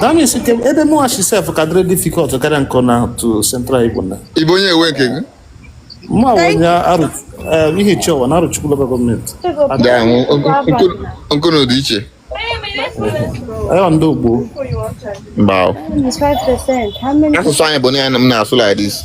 That means ebe mụwa shi sef ka dịrị difficult karịa nke unu to central Igbo na. Ị bụ onye ebe nke gị? M wụ onye Arọ eh, Ihechiowa na Arọchukwu local government. Nke unu dị iche. Ayo ndị Igbo. Mba. Asụsụ anyị bụ na ya na m na-asụ like this.